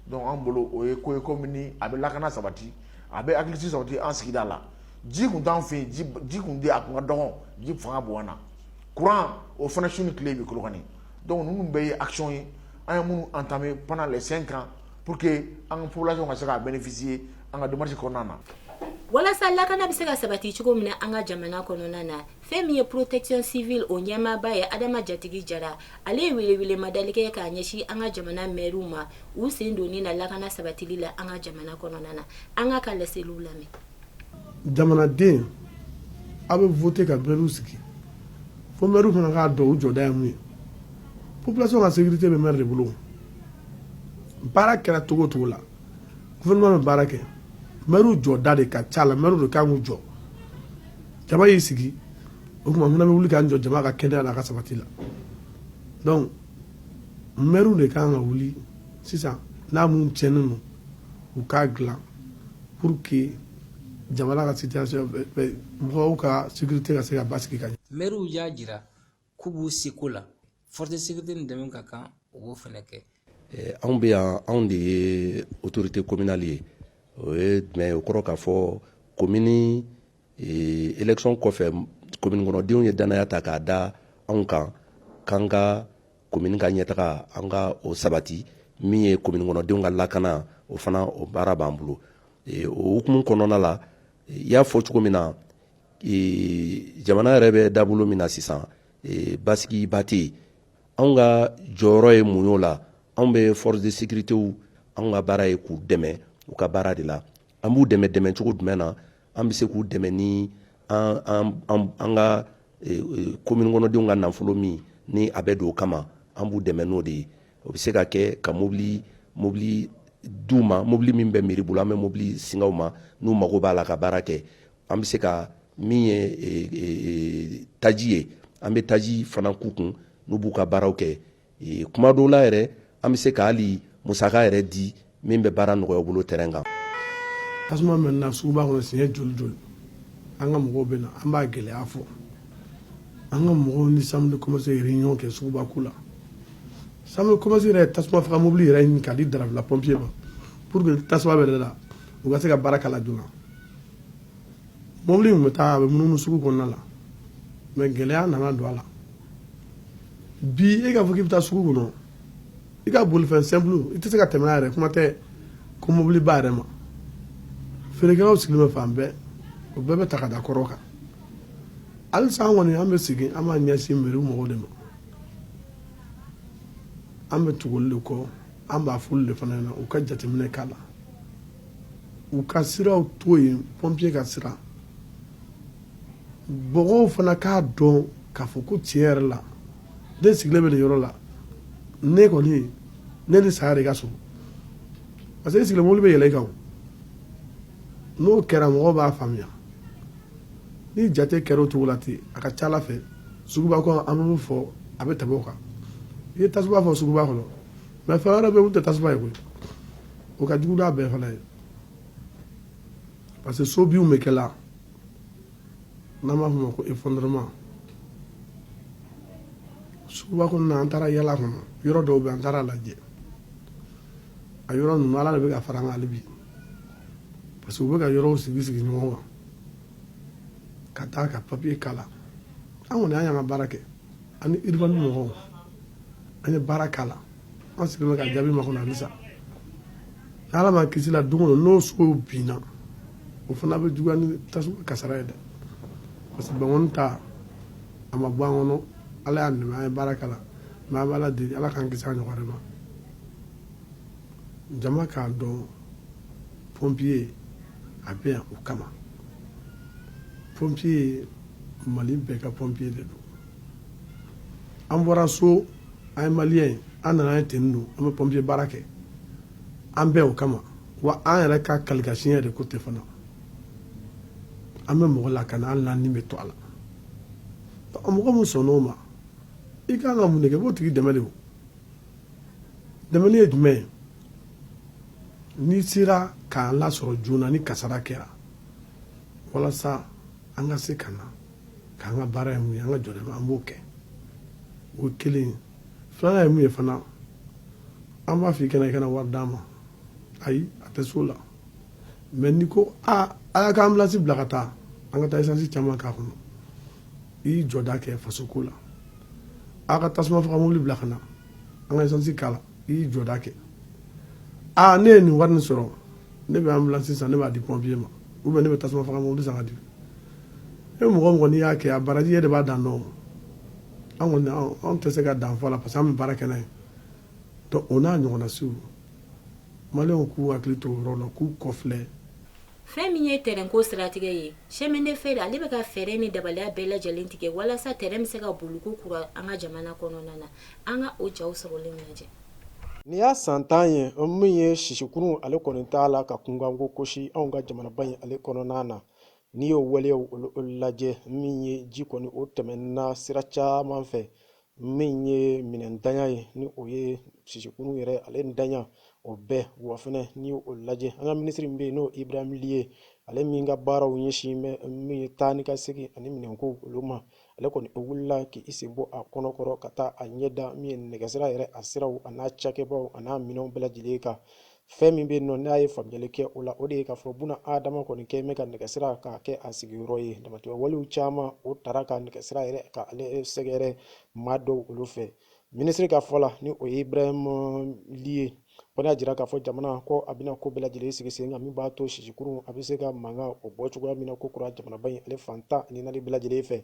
[SPEAKER 13] donc an bolo o ye ko ye komi a bɛ lakana sabati a bɛ hakilisigi sabati an sigida la ji tun t'an fɛ yen ji tun tɛ a tun ka dɔgɔ ji fanga bonyana kuran o fana su ni tile bɛ Kolokani donc ninnu bɛɛ ye action ye an ye minnu entamé pendant les cinq ans pour que an ka population ka se k'a bénéficier an ka démarche kɔnɔna na walasa lakana
[SPEAKER 1] bɛ se ka sabati cogo min na an ka jamana kɔnɔna na fɛn min ye protection civile o ɲɛmaaba ye adama jatigi jara ale ye welewelemadali kɛ k'a ɲɛsin an ka jamana mɛriw ma u sen donni na lakana sabatili la an ka jamana kɔnɔna na an ka ka laseliw lamɛn
[SPEAKER 14] jamanaden aw bɛ voté ka maires sigi fo maires fana k'a dɔn u jɔda ye mun ye population ka sécurité bɛ maire de bolo baara kɛra cogo o cogo la gouvernement bɛ baara kɛ maires jɔda de ka ca la maires de kan k'u jɔ jama y'i sigi o tuma an fana bɛ wuli k'an jɔ jama ka kɛnɛya la a ka sabati la donc Mɛriw de ka kan ka wuli sisan n'a minnu cɛnnen don u k'a dila pour que jamana ka situation mɔgɔw ka sécurité ka se ka basigi ka ɲɛ mɛriw y'a
[SPEAKER 15] jira k'u b'u seko la force de sécurité dɛmɛ ka kan u b'o fana kɛ anw bɛ yan
[SPEAKER 16] anw de ye autorité communale ye o ye jumɛn ye o kɔrɔ k'a fɔ komini Ee élection kɔfɛ commune kɔnɔdenw ye danaya ta k'a da anw kan k'an ka commune ka ɲɛtaga an ka o sabati min ye commune kɔnɔdenw ka lakana o fana o baara b'an bolo ee o hukumu kɔnɔna la i y'a fɔ cogo min na ee jamana yɛrɛ bɛ dabolo min na sisan ee basigiba tɛ yen anw ka jɔyɔrɔ ye mun y'o la anw bɛ force de sécurité anw ka baara ye k'u dɛmɛ u ka baara de la an b'u dɛmɛ dɛmɛ cogo jumɛn na an bɛ se k'u dɛmɛ ni an ka komini kɔnɔdenw ka nafolo min ni a bɛ don o kama an b'u dɛmɛ n'o de ye o bɛ se ka kɛ ka mobili mobili d'u ma mobili min bɛ meri bolo an bɛ mobili singa u ma n'u mago b'a la ka baara kɛ an bɛ se ka min ye taji ye an bɛ taji fana k'u kun n'u b'u ka baaraw kɛ kuma dɔw la yɛrɛ an bɛ se ka hali musaka yɛrɛ di min bɛ baara nɔgɔya u bolo terrain kan
[SPEAKER 14] tasuma mɛnɛna suguba kɔnɔ siɲɛ joli joli an ka mɔgɔw bɛ na an b'a gɛlɛya fɔ an ka mɔgɔw ni chambre de commerce ye réunion kɛ suguba ko la chambre de commerce yɛrɛ tasuma faga mobili yɛrɛ ɲini k'a di dravela pɔnpiye ma pour que tasuma bɛ la u ka se ka baara k'a la joona mobili min bɛ taa a bɛ munumunu sugu kɔnɔna la mɛ gɛlɛya nana don a la bi e k'a fɔ k'i bɛ taa sugu kɔnɔ i ka bolifɛn simple i tɛ se ka tɛmɛ yɛrɛ kuma tɛ ko mobiliba yɛrɛ ma feerekɛlaw sigilen bɛ fan bɛɛ o bɛɛ bɛ ta ka da kɔrɔ kan halisa an kɔni an bɛ sigi an b'a ɲɛsin meri mɔgɔw de ma an bɛ tugu olu de kɔ an b'a f'olu de fana ɲɛna u ka jateminɛ k'a la u ka siraw to yen pɔnpiye ka sira mɔgɔw fana k'a dɔn k'a fɔ ko tiɲɛ yɛrɛ la ne sigilen bɛ nin yɔrɔ la ne kɔni ne ni saya de ka surun parce que e sigilen mobili bɛ yɛlɛ i kan n'o kɛra mɔgɔw b'a faamuya ni jate kɛra o cogo la ten a ka ca ala fɛ suguba kɔnɔ an bɛ fɔ a bɛ tɛmɛ o kan i ye tasuma fɔ suguba kɔnɔ mɛ fɛn wɛrɛ bɛ yen o tɛ tasuma ye koyi o ka jugu n'a bɛɛ fana ye parce que so binw bɛ kɛ la n'an b'a fɔ o ma ko effondrement suguba kɔnɔna an taara yaala a kɔnɔ yɔrɔ dɔw bɛ an taara a lajɛ a yɔrɔ ninnu ala de bɛ ka fara an kan hali bi parce que u bɛ ka yɔrɔw sigi sigi ɲɔgɔn kan ka taa ka papiye k'a la an kɔni an y'an ka baara kɛ ani urbain mɔgɔw an ye baara k'a la an sigilen bɛ ka jaabi makɔnɔ halisa ala m'an kisi la don o don n'o sow binna o fana bɛ juguya ni tasuma kasara ye dɛ parce que bankoni ta a ma bɔ an kɔnɔ ala y'a nɛmɛ an ye baara k'a la mɛ an bɛ ala deli ala k'an kisi a ɲɔgɔn wɛrɛ ma jama k'a dɔn pompiye a bɛ yan o kama pompiye mali bɛɛ ka pompiye de don an bɔra so an ye maliyɛn ye an nana ye ten don an bɛ pɔnpiye baara kɛ an bɛ o kama wa an yɛrɛ ka qualification de ko tɛ fana an bɛ mɔgɔ lakana hali n'an ni bɛ to a la mɔgɔ min sɔnn'o ma i ka kan ka mun de kɛ k'o tigi dɛmɛ de dɛmɛ ye jumɛn ye n'i sera k'an lasɔrɔ joona ni kasara kɛra walasa an ka se ka na k'an ka baara ye mun ye an ka jɔda an b'o kɛ o kelen filanan ye mun ye fana an b'a fɔ i kana i kana wari d'an ma ayi a tɛ so la mɛ n'i ko aa a y'a ka anbilansi bila ka taa an ka taa isansi caman k'a kɔnɔ i y'i jɔda kɛ faso ko la a ka tasuma faga mobili bila ka na an ka isansi k'a la i y'i jɔda kɛ aa ne ye nin wari nin sɔrɔ ne bɛ ambulance san ne b'a di pompier ma ou bien ne bɛ tasuma faga mobili san ka di e mɔgɔ mɔgɔ n'i y'a kɛ a baraji e de b'a dan dɔn an kɔni anw tɛ se ka dan fɔ a la parce que an bɛ baara kɛ n'a ye donc o n'a ɲɔgɔnna siw maliyɛnw k'u hakili to o yɔrɔ la k'u kɔfilɛ fɛn
[SPEAKER 1] min ye tɛrɛnko siratigɛ ye chemin de fer ale bɛ ka fɛɛrɛ ni dabaliya bɛɛ lajɛlen tigɛ walasa tɛrɛn bɛ se ka boli ko kura an ka jamana kɔnɔna na an ka o jaw sɔrɔlen lajɛ nin
[SPEAKER 17] y'a san tan ye min ye sisikurun ale kɔni t'a la ka kunkanko kosi anw ka jamanaba in ale kɔnɔna na n'i y'o waleyaw olu lajɛ min ye ji kɔni o tɛmɛna sira caman fɛ min ye minɛnntanya ye ni o ye sisikurun yɛrɛ ale ntanya o bɛɛ wa fɛnɛ n'i y'o lajɛ an ka minisiri min bɛ yen n'o ibrahim li ye ale min ka baaraw ɲɛsin bɛ min ye taa ni ka segin ani minɛnko olu ma ale kɔni o wulila k'i sen bɔ a kɔnɔkɔrɔ ka taa a ɲɛda min ye nɛgɛsira yɛrɛ a siraw an'a cakɛbaw an'a minɛnw bɛɛ lajɛlen kan fɛn min bɛ nɔ n'a ye faamuyali kɛ o la o de ye k'a fɔ bunaadama kɔni kɛ bɛ ka nɛgɛsira k'a kɛ a sigiyɔrɔ ye damatɛmɛ walew caman o tara ka nɛgɛsira yɛrɛ k'ale sɛgɛrɛ maa dɔw olu fɛ minisiri ka fɔ la ni o ye ibrahim li ye o y'a jira k'a fɔ jamana ko a bɛna ko bɛɛ lajɛlen sigi sen kan min b'a to sisikurun a bɛ se ka mankan o bɔ cogoya min na ko kura jamanaba in ale fan tan ni naani bɛɛ lajɛlen fɛ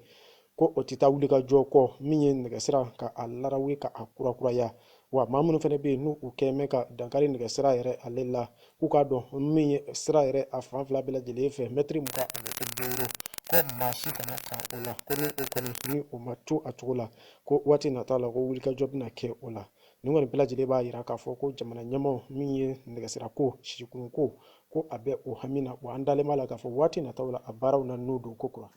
[SPEAKER 17] ko o tɛ taa wuli ka jɔ kɔ min ye nɛgɛsira ka a larawe ka a kurakuraya wa maa minnu fana bɛ yen n'u kɛ mɛ ka dankari nɛgɛsira yɛrɛ ale la k'u k'a dɔn min ye sira yɛrɛ a fan fila bɛɛ lajɛlen fɛ mɛtiri mugan ani duuru ko maa si kana kan o la ko ni o kɔni ni o ma to a cogo la ko waati nataw la ko wulikajɔ bɛna kɛ o la nin kɔni bɛɛ lajɛlen b'a jira k'a fɔ ko jamana ɲɛmaaw min ye nɛgɛsirako sisikurunko ko a bɛ o hami na wa an dalen b'a la k'a fɔ waati nataw la a baaraw na nun don ko kura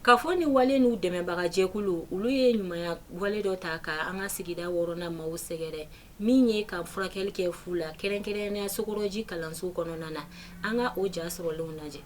[SPEAKER 17] Ka fɔ ni
[SPEAKER 1] wale n'u dɛmɛbaga jɛkulu, olu ye ɲumanya wale dɔ ta ka an ka sigida wɔɔrɔnan maaw sɛgɛrɛ, min ye ka furakɛli kɛ fu la, kɛrɛnkɛrɛnnenya sokɔrɔji kalanso kɔnɔna na, an ka o ja sɔrɔlenw lajɛ.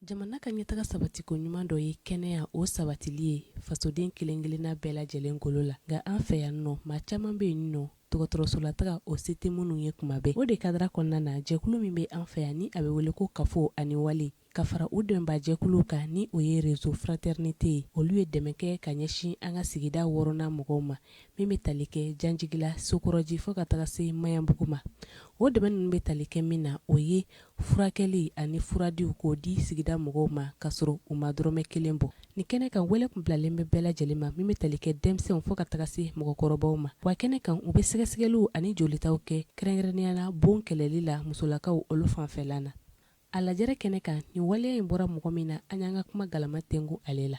[SPEAKER 18] Jamana ka ɲɛtaga sabati ko ɲuman dɔ ye kɛnɛya o sabatili ye fasoden kelen-kelenna bɛɛ lajɛlen golo la nka an fɛ yan nɔ maa caman bɛ yen nɔ dɔgɔtɔrɔsola taga o se tɛ minnu ye tuma bɛɛ o de kadara kɔnɔna na jɛkulu min bɛ an fɛ yan ni a bɛ wele ko kafo ani wale ka fara u dɛmɛbaa jɛkuluw kan ni o ye réseau fraternité ye olu ye dɛmɛ kɛ ka ɲɛsin an ka sigida wɔɔrɔnan mɔgɔw ma min bɛ tali kɛ janjigila sokɔrɔji fɔ ka taga se maɲanbugu ma o dɛmɛ ninnu bɛ tali kɛ min na o ye furakɛli ani furadiw k'o di sigida mɔgɔw ma ka sɔrɔ u ma dɔrɔmɛ kelen bɔ nin kɛnɛ kan wele tun bilalen bɛ bɛɛ lajɛlen ma min bɛ tali kɛ denmisɛnw fo ka taga se mɔgɔkɔrɔbaw ma wa kɛnɛ kan u bɛ sɛgɛsɛgɛliw ani jolitaw kɛ kɛrɛnkɛrɛnnenya la bon kɛlɛli la musolakaw olu fanfɛla na a lajɛrɛ kɛnɛ kan nin waleya in bɔra mɔgɔ min na an y'an ka kuma galama tɛnku ale la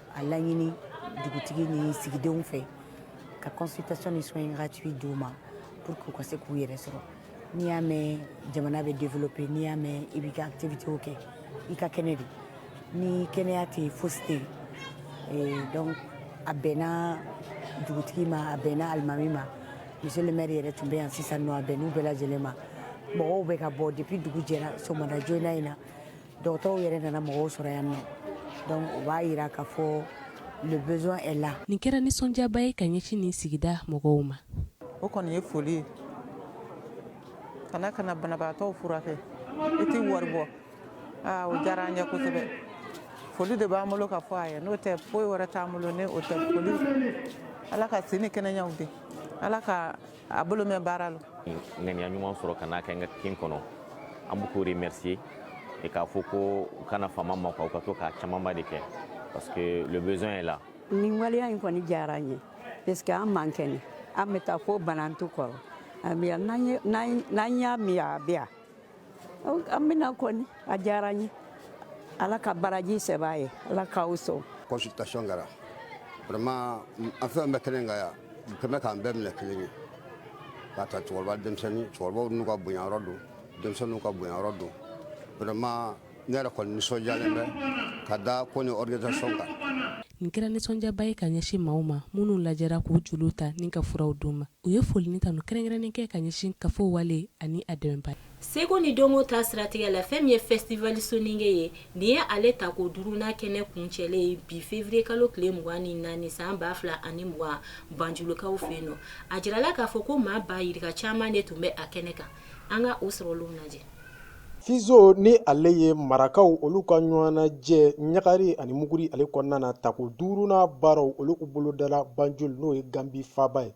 [SPEAKER 19] A laɲini dugutigi ni sigidenw fɛ ka consultation ni soins gratuits d'u ma pour que u ka se k'u yɛrɛ sɔrɔ n'i y'a mɛn jamana bɛ développer n'i y'a mɛn i bɛ ka activitéw kɛ i ka kɛnɛ de ni kɛnɛya tɛ foyi tɛ donc a bɛnna dugutigi ma a bɛnna alimami ma monsieur le maire yɛrɛ tun bɛ yan sisan nɔ a bɛnn'u bɛɛ lajɛlen ma mɔgɔw bɛ ka bɔ depuis dugu jɛra sɔgɔmada joona in na dɔgɔtɔrɔw yɛrɛ nana mɔgɔw sɔrɔ yan nɔ donc o b'a yira k'a fɔ le besoin est là nin kɛra
[SPEAKER 18] nisɔndiyaba ye ka ɲɛsin nin sigida mɔgɔw ma o kɔni ye
[SPEAKER 20] foli ye ka na ka na banabagatɔw furakɛ i tɛ wari bɔ aa o diyara an ye kosɛbɛ foli de b'an bolo ka fɔ a ye n'o tɛ foyi wɛrɛ t'an bolo ni o tɛ foli ala ka si ni kɛnɛyaw di ala ka a bolo mɛn baara la ŋaniya ɲuman
[SPEAKER 21] sɔrɔ ka n'a kɛ n ka kin kɔnɔ an bɛ k'o remercier et k'a fɔ ko u kana fama an ma quoi u ka to k'a camanba de kɛ parce que le besoin est là nin waleya in
[SPEAKER 22] kɔni diyara n ye parce que an man kɛnɛ an bɛ taa fo banantu kɔrɔ a bɛ yan n'an ye- n'an n'an y'a min a bɛ yan an bɛna kɔni a diyara n ye ala ka baraji sɛbɛn a ye ala k'aw sɔn consultation kɛra
[SPEAKER 23] vraiment an fɛn bɛɛ kelen ka yan kɛmɛ k'an bɛɛ minɛ kelen ye k'a ta cɛkɔrɔba denmisɛnnin cɛkɔrɔbaw n'u ka bonyayɔrɔ don denmisɛnninw ka bonyayɔrɔ don vraiment ne yɛrɛ kɔni nisɔndiyalen bɛ ka da ko nin organisation kan. Nin kɛra
[SPEAKER 18] nisɔndiyaba ye ka ɲɛsin maaw ma minnu lajɛra k'u joliw ta ni ka furaw d'u ma. U ye foli ni tanu kɛrɛnkɛrɛnnen kɛ ka ɲɛsin kafo wale ani a dɛmɛbaa. Seko ni dɔnko
[SPEAKER 1] ta siratigɛ la, fɛn min ye Festival Soninke ye, nin ye ale tako duurunan kɛnɛ kuncɛlen ye bi fevrier kalo tile mugan ni naani san ba fila ani mugan Banjulukaw fɛ yen. A jirala k'a fɔ ko maa ba yirika caman de tun bɛ a kɛnɛ kan. An ka o sɔrɔlenw lajɛ.
[SPEAKER 17] Fizo ni ale ye marakaw olu ka ɲɔgɔnnajɛ ɲagari ani muguri ale kɔnɔna na tako duurunan baaraw olu u bolo dala banjul n'o ye ganbi faba ye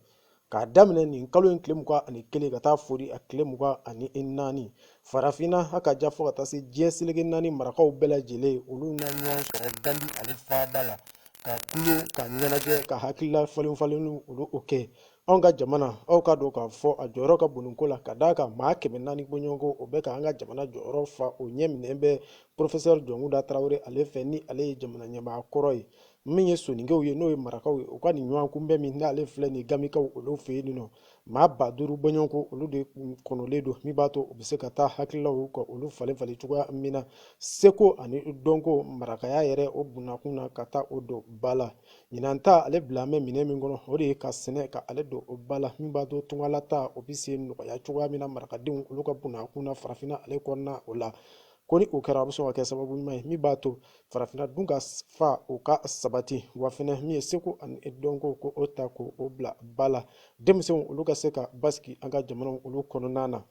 [SPEAKER 17] k'a daminɛ nin kalo in tile mugan ani kelen ka taa foori a tile mugan ani naani farafinna ha ka jan fo ka taa se diɲɛ seleke naani marakaw bɛɛ lajɛlen olu na ɲɔgɔn sɔrɔ ganbi ale faba la ka kule ka ɲɛnajɛ ka hakilila falenfalenw olu o kɛ anw ka jamana aw k'a dɔn k'a fɔ a jɔyɔrɔ ka bon ko la ka d'a kan maa kɛmɛ naani bɔɲɔgɔnko o bɛ ka an ka jamana jɔyɔrɔ fa o ɲɛ minɛn bɛ porofesɛri jɔnkuda tarawele ale fɛ ni ale ye jamana ɲɛmaa kɔrɔ ye min ye soninkew ye n'o ye marakaw ye u ka nin ɲɔgɔn kunbɛn min n'ale filɛ nin ganbikaw olu fɛ yen nɔ maa ba duuru bɔɲɔgɔnko olu de kɔnɔlen don min b'a to u bɛ se ka taa hakililaw ka olu falen falen cogoya min na seko ani dɔnko marakaya yɛrɛ o bunnakun na ka taa o don ba la Ɲinan ta ale bilalen bɛ minɛn min kɔnɔ o de ye ka sɛnɛ ka ale don o ba la min b'a to tungala taa o bɛ se nɔgɔya cogoya min na marakadenw olu ka bunnakun na farafinna ale kɔnɔna o la ko ni o kɛra a bɛ sɔn ka kɛ sababu ɲuman ye min b'a to farafinna dunkafa o ka sabati wa fɛnɛ min ye seko ani dɔnko k'o ta k'o bila ba la denmisɛnw olu ka se ka basigi an ka jamanaw olu kɔnɔna na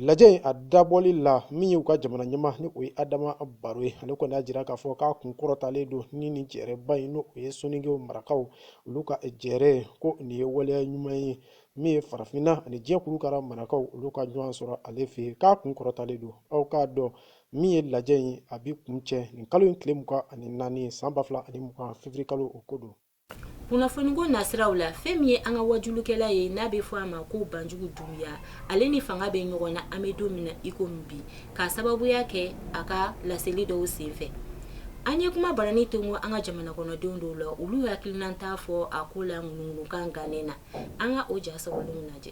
[SPEAKER 17] Lajɛ in a dabɔli la min y'u ka jamana ɲɛmaa ni o ye adama baro ye ale kɔni y'a jira k'a fɔ k'a kun kɔrɔtalen don ni nin jɛrɛba in n'o ye soninkew marakaw olu ka jɛrɛ ko nin ye waleya ɲuman ye min ye farafinna ani diɲɛ kurukara marakaw olu ka ɲɔgɔn sɔrɔ ale fɛ yen k'a kun kɔrɔtalen don aw k'a dɔn min ye lajɛ in a bi kuncɛ nin kalo in tile mugan ani naani san ba fila ani mugan février kalo o ko don
[SPEAKER 1] kunnafoniko nasiraw la fɛn min ye an ka wajulukɛla ye n'a bɛ fɔ a ma ko banjugu dunbiya ale ni fanga bɛ ɲɔgɔn na an bɛ don min na i komi bi k'a sababuya kɛ a ka laseli dɔw senfɛ an ye kuma baranin tongo an ka jamana kɔnɔdenw dɔw la olu y'u hakilinata fɔ a ko la ŋunuŋunukan gannen na an ka o ja sɔrɔlenw lajɛ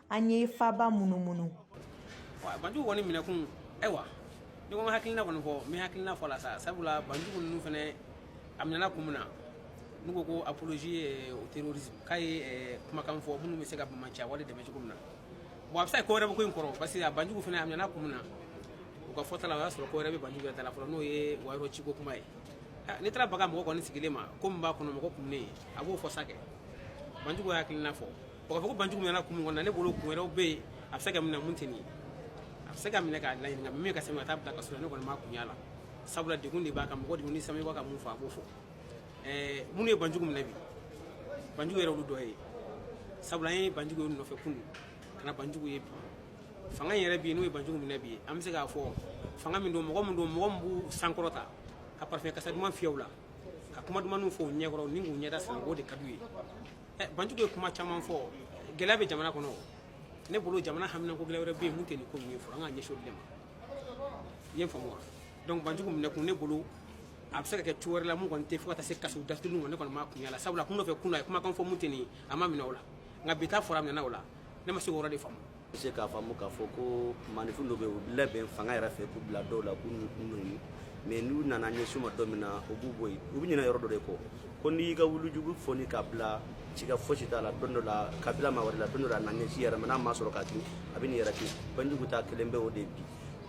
[SPEAKER 9] an ye faba munumunu
[SPEAKER 24] banjugu kɔni minɛkun ayiwa n'i ko n ka hakilina kɔni fɔ n bɛ hakilina fɔ la sa sabula banjugu ninnu fɛnɛ a minɛna kun min na n'u ko ko apologie au terrorisme k'a ye kumakan fɔ minnu bɛ se ka banbaanciya wale dɛmɛ cogo min na bon a bɛ se ka ko wɛrɛ bɛ ko in kɔrɔ parce que a banjugu fɛnɛ a minɛna kun min na u ka fɔta la o y'a sɔrɔ ko wɛrɛ bɛ banjugu yɛrɛ ta la fɔlɔ n'o ye wayɔrɔ ciko kuma ye n'i taara baga mɔgɔ kɔni sigilen ma ko min b'a kɔnɔ mɔgɔ kun ne ye a b'o fɔ sa kɛ banjugu hakilina fɔ O k'a fɔ ko banjugu minɛna kun min kɔnɔ ne bolo kun wɛrɛw bɛ yen a bɛ se ka minɛ min tɛ nin ye a bɛ se ka minɛ k'a laɲini nka min ka se ka taa bila kaso rɔ ne kɔni ma kun y'a la sabula degun de b'a kan mɔgɔ degunnen sa min b'a ka mun fɔ a b'o fɔ ɛɛ minnu ye banjugu minɛ bi banjugu yɛrɛ olu dɔ ye sabula an ye banjugu ye nɔfɛ kunun ka na banjugu ye bi fanga in yɛrɛ bi n'o ye banjugu minɛ bi an bɛ se k'a fɔ fanga min don mɔgɔ min don mɔgɔ min b'u sankɔrɔta ka parfɛn kasa duman fiyɛ u la ka kuma dumanw fɔ u ɲɛkɔrɔ ni k'u ɲɛda siran o de ka d'u ye Eh, banjugu ye kuma caman fɔ gɛlɛya bɛ jamana kɔnɔ ne bolo jamana haminanko gɛlɛya wɛrɛ bɛ yen mun tɛ nin ko ninnu ye fɔlɔ an ka ɲɛsin olu de ma i ye n faamu wa donc banjugu minɛ kun ne bolo a bɛ se ka kɛ cogo wɛrɛ la mun kɔni tɛ fo ka taa se kaso datugu ma ne kɔni ma kun y'a la sabula kunu nɔfɛ kunu na a ye kumakan fɔ mun tɛ nin ye a ma minɛ o la nka bi ta fɔra a minɛna o la ne ma se k'o yɔrɔ de faamu bɛ se k'a faamu
[SPEAKER 2] k'a fɔ ko maaninfin dɔ bɛ yen u labɛn fanga yɛrɛ fɛ k'u bila dɔw la k'u nɔni mais n'u nana ɲɛsin u ma don min na u b'u bɔ yen u bɛ ɲinɛ yɔrɔ dɔ de kɔ ko n'i y'i ka wulujugu fɔni k'a bila sika fosi t'a la don dɔ la k'a bila maa wɛrɛ la don dɔ la a na ɲɛsin i yɛrɛ ma n'a ma sɔrɔ k'a kin a bɛ n'i yɛrɛ kin banjugu ta kɛlen bɛ o de bi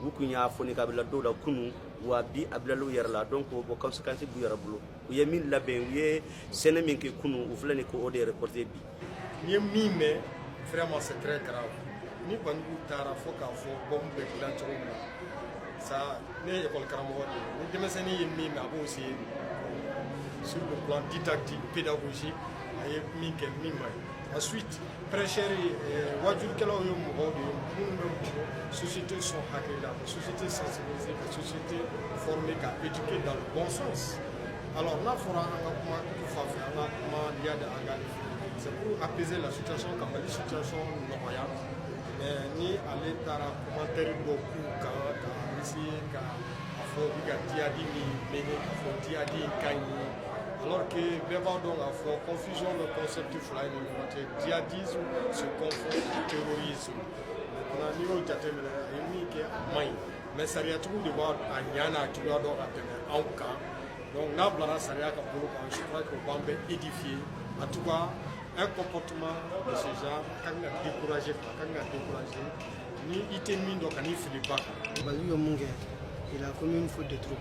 [SPEAKER 2] u kun y'a fɔni k'a bila dɔw la kunu wa bi a bilala u yɛrɛ la donc o bon conséquence b'u yɛrɛ bolo u ye min labɛn u ye sɛnɛ min kɛ kunu u filɛ nin ka o de récolter bi n ye
[SPEAKER 8] min mɛn vraiment c'est très grave ni banjugu taara fo k'a fɔ bombe bɛ dilan cogo min na ça ne ye école karamɔgɔ de ye ni denmisɛnnin ye min mɛn a b'o essayer sur le plan didactique pédagogique a ye min kɛ min man ɲi ensuite prêcheur ye waajulikɛlaw ye mɔgɔw de ye minnu bɛ mɔgɔ société sɔn hakili la ka société sensibiliser ka société former k'a éduquer dans le bon sens n'a fɔra an ka kuma fan fɛ an ka kuma diya de an ka c'est pour apaiser la situation ka Mali situation nɔgɔya mais ni ale taara commentaire bɔ k'u kan k'a bisigi k'a fɔ u bɛ ka jihadi nin minɛ k'a fɔ jihadi ka ɲi alors que bɛɛ b'a dɔn k'a fɔ confusion bɛ concept fila in ni ɲɔgɔn cɛ djihadisme se confond terrorisme maintenant n'i y'o jateminɛ a ye min kɛ a man ɲi mais sariyatigiw de b'a a ɲa n'a juguya dɔn ka tɛmɛ anw kan donc n'a bilara sariya ka bolo kan je crois que o b'an bɛɛ édifier en tout cas un comportement de ce genre a ka kan ka décourager quoi a ka kan ka décourager ni i tɛ min dɔn kan'i fili ba kan banjugu ye mun kɛ
[SPEAKER 3] il a commis une faute de trop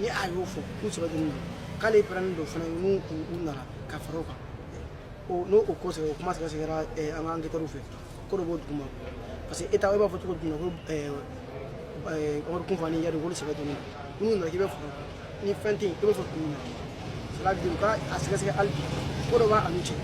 [SPEAKER 3] ni a y'o fɔ k'u sɔrɔ deni don k'ale pɛrɛlen don fana n'u u nana ka fara u kan n'o o ko sɛgɛ o kuma sɛgɛsɛgɛra an ka enquêteurw fɛ ko dɔ b'o duguma parce que e ta e b'a fɔ cogo jumɛn ko Amadu Kufa ni Iyadi k'olu sɛgɛ deni don n'u nana k'i bɛ fara u kan ni fɛn tɛ yen i bɛ fɔ mun na cela veut dire u ka a sɛgɛsɛgɛ hali bi ko dɔ b'a n'u cɛ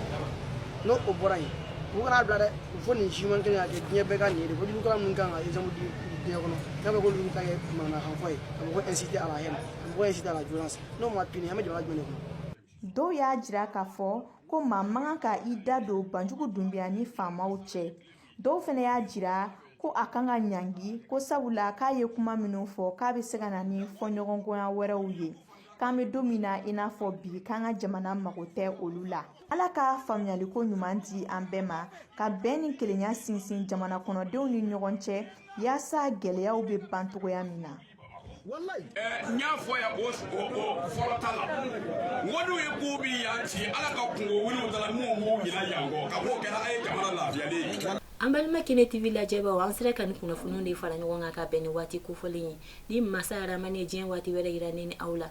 [SPEAKER 3] n'o o bɔra yen u kan'a bila dɛ u punissement kelen ka kɛ diɲɛ bɛɛ ka nin ye de ko waajulikɛla minnu kan ka exemple di diɲɛ kɔnɔ n'a bɛ k'olu ta kɛ manamanakanfɔ ye a mɔgɔ inciter à la haine ka mɔgɔ inciter à la violence n'o ma punir an bɛ jamana jumɛn de kɔnɔ. Dɔw
[SPEAKER 4] y'a jira k'a fɔ ko maa man kan ka i da don Banjugu Dunbiya ni faamaw cɛ. Dɔw fana y'a jira ko a kan ka ɲangi ko sabula k'a ye kuma minnu fɔ k'a bɛ se ka na ni fɔɲɔgɔnkɔya wɛrɛw ye k'an bɛ don min na i n'a fɔ bi k'an ka jamana mago tɛ olu la. ala ka faamuyaliko ɲuman di an bɛɛ ma ka bɛn ni kelenya sinsin jamana kɔnɔdenw ni ɲɔgɔn cɛ yaasa gɛlɛyaw bɛ ban cogoya min na
[SPEAKER 25] n y'a fɔ yan o fɔlɔ ta la wariw ye ko bi yan ci ala ka kungo wuluw da la minnu b'u ɲina yan kɔ ka b'o kɛra a ye jamana lafiyalen ye an balima
[SPEAKER 1] kene tv lajɛbaaw an sera ka nin kunnafoniw de fara ɲɔgɔn kan ka bɛn ni waati kofɔlen ye ni masa aramani ye diɲɛ waati wɛrɛ yira ne ni aw la